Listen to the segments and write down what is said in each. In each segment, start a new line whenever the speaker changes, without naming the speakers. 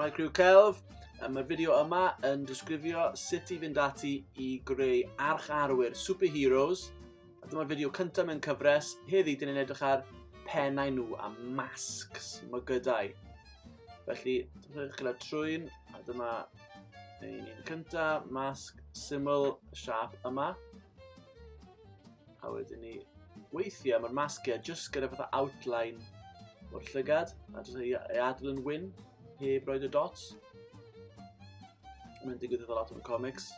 Mae Crew Celf, mae'r fideo yma yn disgrifio sut i fynd ati i greu arch arwyr superheroes. A dyma'r fideo cyntaf mewn cyfres. Heddi, dyn ni'n edrych ar pennau nhw a masks, mygydau. Felly, dyma chi'n trwy'n, a dyma Dyn ni'n cynta, masg syml siap yma. A wedyn ni, weithiau mae'r masgiau jyst gyda fatha outline o'r llygad, a jyst ei, ei adl yn wyn, heb roed y dots. Mae'n digwydd efo lot o'r comics,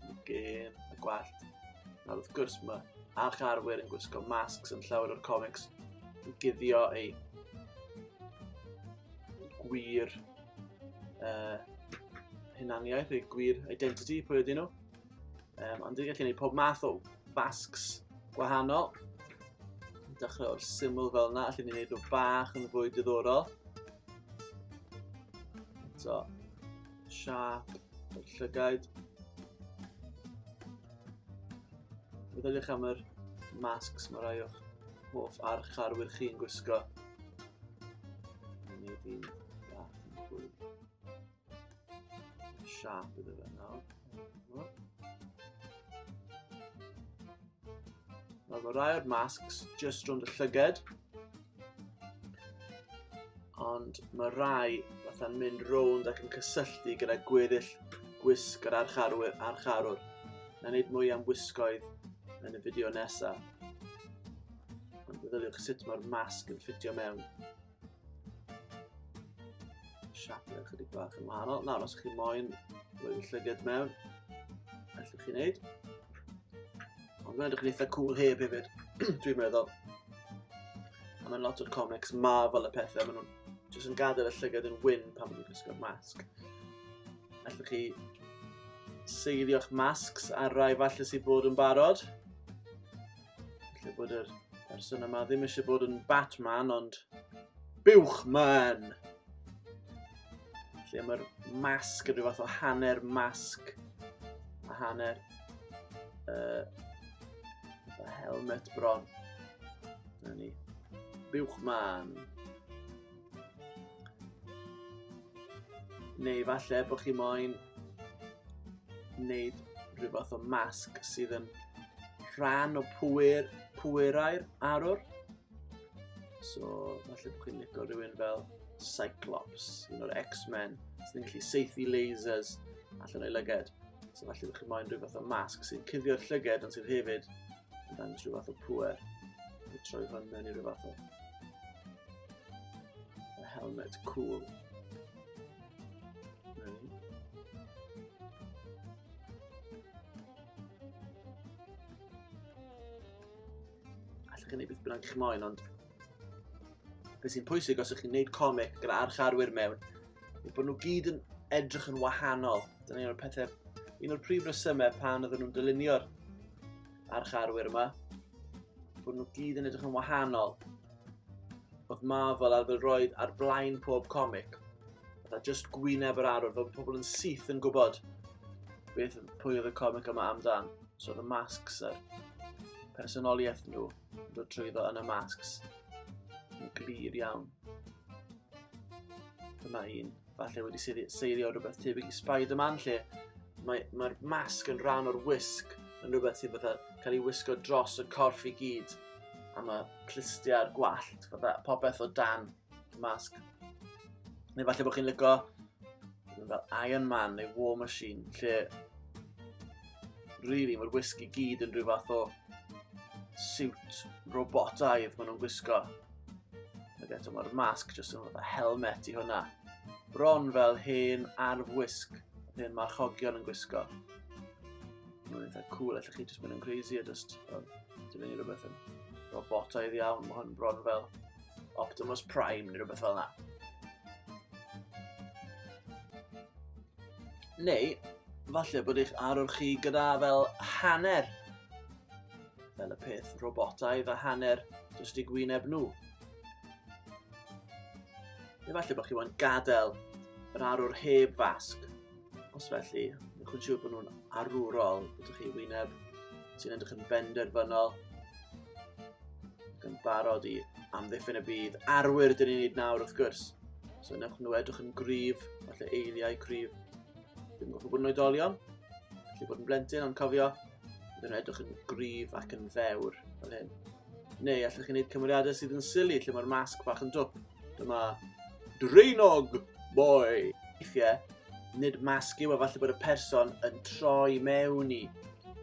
y gêm, y gwallt. A wrth gwrs mae arch arwyr yn gwisgo masks yn llawer o'r comics yn guddio ei gwir uh, hunaniaeth, eu gwir identity, pwy ydyn nhw. Um, ond dwi'n gallu gwneud pob math o fasgs gwahanol. Dechrau o'r syml fel yna, allan ni'n gwneud o bach yn fwy diddorol. So, siap, o'r llygaid. Fe ddylech am yr masks mae rai o'ch hoff archarwyr chi'n gwisgo. Nid un bach yn fwy. Siap iddo fe nawr. Nawr mae rai o'r masks just rhwng y llyged. Ond mae rai fatha'n mynd rownd ac yn cysylltu gyda gweddill gwisg yr archarwyr, archarwr. Na wneud mwy am wisgoedd yn y fideo nesaf. Meddyliwch sut mae'r masg yn ffitio mewn. Siap yn ychydig bach yn wahanol. Nawr, os chi moyn rwy'n llyged mewn, allwch chi'n neud. Ond mae'n edrych yn eitha cool heb hefyd, dwi'n meddwl. A mae'n lot o'r comics ma fel y pethau, maen nhw'n jyst yn gadael y llygad yn wyn pan maen nhw'n gwisgo'r masg. Allwch chi seilio'ch masks ar rai falle sy'n bod yn barod. Felly bod yr person yma ddim eisiau bod yn Batman, ond Buwchman! Felly mae'r masg yn rhyw fath o hanner masg a hanner uh, a helmet bron. Na ni. Buwchman. Neu falle bod chi moyn wneud rhywbeth o masg sydd yn rhan o pwyr, pwyrau'r arwr. So, falle bod chi'n licio rhywun fel Cyclops, un o'r X-Men, sy'n gallu seithi lasers allan o'i lyged. So, falle bod chi'n moyn rhywbeth o masg sy'n cuddio'r llyged ond sydd hefyd yn dangos rhyw fath o pwer. Fe troi hwn mewn i rhyw fath o a helmet cool. Allwch chi wneud beth bynnag chi'n moyn, ond Beth sy'n pwysig os ych chi'n gwneud comic gyda archarwyr mewn, yw bod nhw gyd yn edrych yn wahanol. Dyna un o'r pethau, un o'r prif resymau pan oedden nhw'n dylunio'r archarwyr yma, bod nhw gyd yn edrych yn wahanol. Oedd Marvel ar fel roed ar blaen pob comic. Oedd a just gwyneb yr arwr, fel pobl yn syth yn gwybod beth pwy oedd y comic yma amdan. So oedd y masks a'r personoliaeth nhw. dod trwyddo yn y masks yn glir iawn. Dyma un, falle wedi seilio rhywbeth tebyg i Spider-Man lle mae'r mae, mae masg yn rhan o'r wisg yn rhywbeth sy'n fatha cael ei wisgo dros y corff i gyd a mae clustiau'r gwallt, fatha popeth o dan y masg. Neu falle bod chi'n lygo fel Iron Man neu War Machine, lle really mae'r whisky gyd yn rhyw fath o siwt robotaidd maen nhw'n gwisgo. Ac eto mae'r masg jyst yn fath helmet i hwnna. Bron fel hen arf wisg, hen marchogion yn gwisgo. Mae'n eitha cool, allwch chi jyst mynd yn crazy a jyst, um, dyn ni rhywbeth yn robotaidd iawn, mae hwn bron fel Optimus Prime neu rhywbeth fel yna. Neu, falle bod eich arwr chi gyda fel hanner fel y peth robotaidd a hanner jyst i gwyneb nhw. Neu falle bod chi wedi gadael yr arwr heb fasg Os felly, newch yn siŵr bod nhw'n arwrol. Ydych chi wyneb sy'n edrych yn benderfynol yn barod i amddiffyn y byd. Arwyr dyn ni'n neud nawr, wrth gwrs. So newch nhw edrych yn gryf, falle eiliau cryf. Dwi'n gofio bod yn oedolion, felly bod yn blentyn, ond cofio, Bydd yn edrych yn gryf ac yn fewr fel hyn. Neu allwch chi wneud cymeriadau sydd yn sili lle mae'r masg bach yn dwp. Dyma Drainog Boy. Weithiau, nid masg yw a falle bod y person yn troi mewn i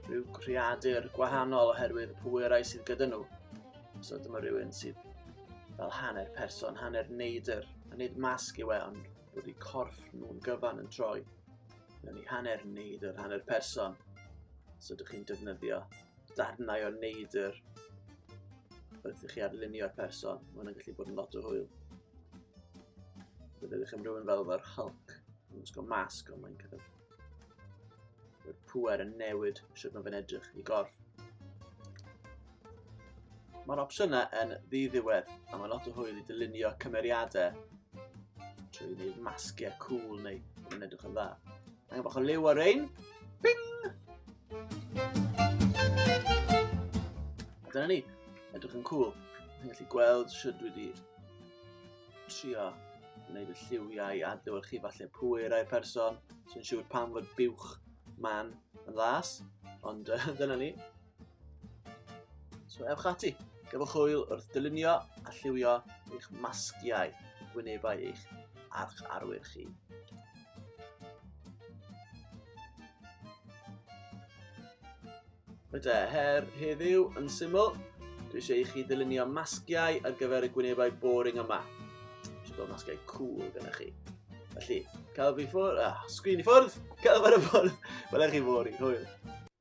rhyw creadur gwahanol oherwydd y pwerau sydd gyda nhw. So dyma rhywun sydd fel hanner person, hanner neidr, a nid masg yw e, ond bod eu corff nhw'n gyfan yn troi. mewn i hanner neidr, hanner person. So ydych chi'n defnyddio darnau o neidr wrth i chi arlunio'r person. Mae hwnna'n gallu bod yn lot o hwyl. Bydd ydych am rhywun fel efo'r Hulk. Mae'n gwisgo masg ond mae'n cael Mae'r pwer yn newid sydd mae'n edrych i gorff. Mae'r opsiynau yn ddiddiwedd a mae lot o hwyl i dylunio cymeriadau trwy wneud masgiau cool neu yn edrych yn dda. Mae'n bach o liw ar ein. Bing! A dyna ni. Edrych yn cool. Mae'n gallu gweld sydd dwi wedi trio wneud y lliwiau a dywed chi falle pwy rai person sy'n siŵr pam fod buwch man yn las. Ond uh, dyna ni. So ewch ati, gyfwch hwyl wrth dylunio a lliwio eich masgiau gwynebau eich arch arwyr chi. Rydw her heddiw yn syml, dwi eisiau i chi ddylunio masgiau ar gyfer y gwynebau boring yma. Eisiau bod masgiau cool gyda chi. Felly, cael fi ffwrdd, ah, sgrin i ffwrdd, cael fi ar y ffwrdd, welai chi fori, hwyl.